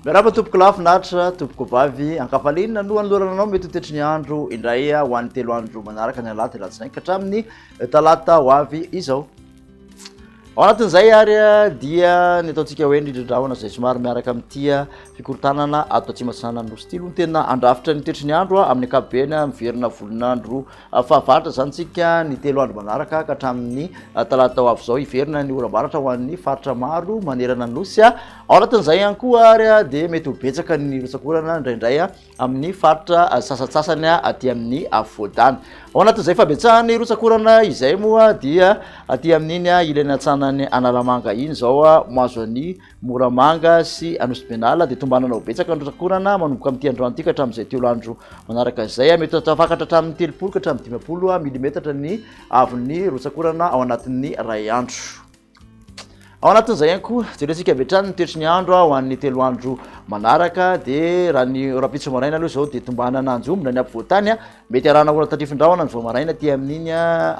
Miarahaba tompoko lahy finaritra, tompoko vavy ankafalinina no anolorana anao mety ho tetry ny andro indray ho an'ny telo andro manaraka ny alahady alatsinainy ka hatramin'ny talata ho avy izao. Ao anatin'izay ary dia ny ataontsika hoe ny rindrahona izay somary miaraka amin'ity fikorontanana ato atsimo atsinanan'ny nosy ity aloha no tena andrafitra ny toetry ny andro amin'ny ankapobeny miverina volon'andro fahavaratra izany tsika ny telo andro manaraka ka hatramin'ny talata ho avy izao hiverina ny oram-baratra ho an'ny faritra maro manerana ny nosy ao anatin'izay ihany koa ary dia mety ho betsaka ny rotsakorana indraindray amin'ny faritra sasantsasany aty amin'ny afovoan-tany. Ao anatin'izay fabetsahan'ny rotsak'orana izay moa dia aty amin'iny ilany atsanan'ny Analamanga iny izao mahazo an'i Moramanga sy Anosibenala dia tombanana ho betsaka ny rotsak'orana manomboka amin'ity androany ity ka hatramin'izay telo andro manaraka izay. Mety ho tafakatra hatramin'ny telopolo ka hatramin'ny dimampolo milimetatra ny haavon'ny rotsak'orana ao anatin'ny iray andro. Ao anatin'izay ihany koa, jerentsika avy hatrany ny toetry ny andro ho an'ny telo andro manaraka, dia raha ny rahampitso maraina aloha izao dia tombanana anjombona ny afovoantany, mety arahana orana tandrifin-drahona ny vao maraina aty amin'iny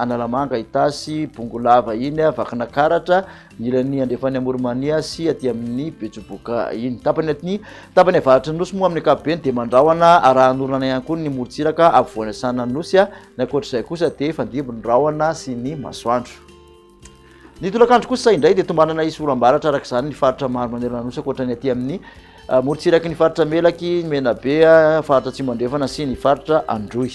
Analamanga, Itasy, Bongolava iny, Vakinakaratra, ny ilany andrefan'ny Amorimania sy aty amin'ny Betsiboka iny. Tapany aty, tapany avaratry ny nosy moa amin'ny ankapobeny dia mandrahona arahan'orana ihany koa ny morontsiraka afovoany asanan'ny nosy, ny ankoatr'izay kosa dia fandimby ny rahona sy ny masoandro. Ny tolakandro kosa indray dia tombanana hisy oram-baratra araka izany ny faritra maro manerana ny nosy ankoatra ny aty amin'ny ah, morontsiraky ny faritra Melaky, ny Menabe, ah, faritra Atsimo Andrefana sy ny faritra Androy.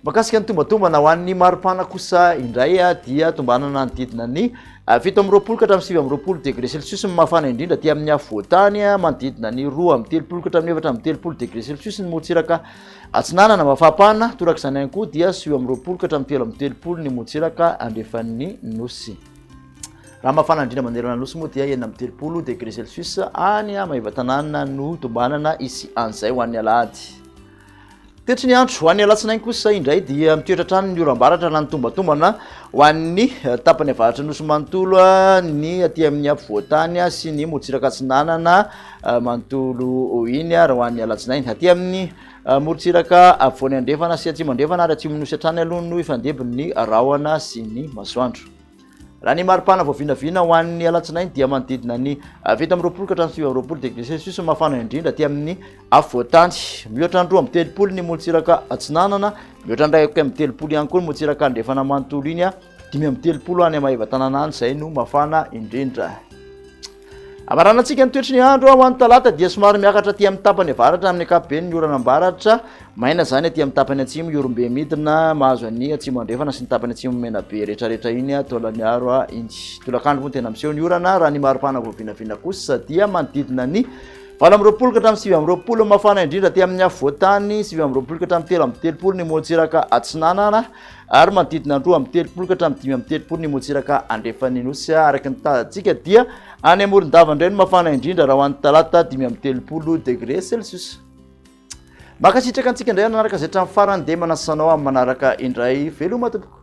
Makasika ny tombatombana ho an'ny maripana kosa indray ah, dia tombanana ny didina ny fito amby roapolo ka hatramin'ny sivy amby roapolo degré celsius ny mafana indrindra aty amin'ny afovoan-tany manodidina ny roa amby telopolo ka hatramin'ny efatra amby telopolo degré celsius ny morontsiraka Atsinanana, Mafapana, torak'izany ihany koa dia sivy amby roapolo ka hatramin'ny telo amby telopolo ny motsiraka andrefan'ny nosy. Raha mafana indrindra manerana ny nosy moa dia enina amby telopolo degré celsius any Maevatanàna no tombanana hisy an'izay ho an'ny alahady. Toetry ny andro ho an'ny alatsinainy kosa indray dia mitoetra hatrany ny oram-baratra na ny tombatombana ho an'ny eh, tapany avaratra nosy manontolo, eh, ny aty amin'ny afovoan-tany eh, sy ny motsiraka atsinanana manontolo iny ary ho an'ny alatsinainy. Aty amin'ny morontsiraka afovoany andrefana sy atsimo andrefana ary atsimon'ny nosy hatrany aloha no ifandebon'ny rahona sy ny masoandro. Raha ny maripana vao vinavina ho an'ny alatsinainy dia manodidina ny fito amby roapolo ka hatramin'ny sivy amby roapolo degré celsius no mafana indrindra aty amin'ny afovoantany. Mihoatra ny roa amby telopolo ny morontsiraka atsinanana, mihoatra ny iray amby telopolo ihany koa ny morontsiraka andrefana manontolo iny Dimy amby telopolo any Maevatanana any izay no mafana indrindra. Amaranantsika ny toetry ny andro ho an'ny talata dia somary miakatra aty amin'ny tapany avaratra amin'ny ankapobeny ny orana ambaratra maina izany aty amin'ny tapany atsimo iorombe midina mahazo an'ny atsimo andrefana sy ny tapany atsimo mena be rehetrarehetra iny taolaniaro a iny tolakandro moa tena miseho ny orana raha ny maripana voavinavina kosa dia manodidina ny valo amin'ny roapolo ka hatramin'ny sivy amin'ny roapolo mafana indrindra aty amin'ny afovoantany sivy amin'ny roapolo ka hatramin'ny telo amin'ny telopolo ny moatsiraka atsinanana ary manodidina ny roa amby telopolo ka hatramin'ny dimy amby telopolo ny motsiraka andrefan'ny nosy araka ny tazantsika dia any amoron-dava indray no mafana indrindra raha ho an'ny talata dimy amby telopolo degré celsius makasitraka antsika indray nanaraka izay trany farany dia manasanao amin'ny manaraka indray veloma tompoko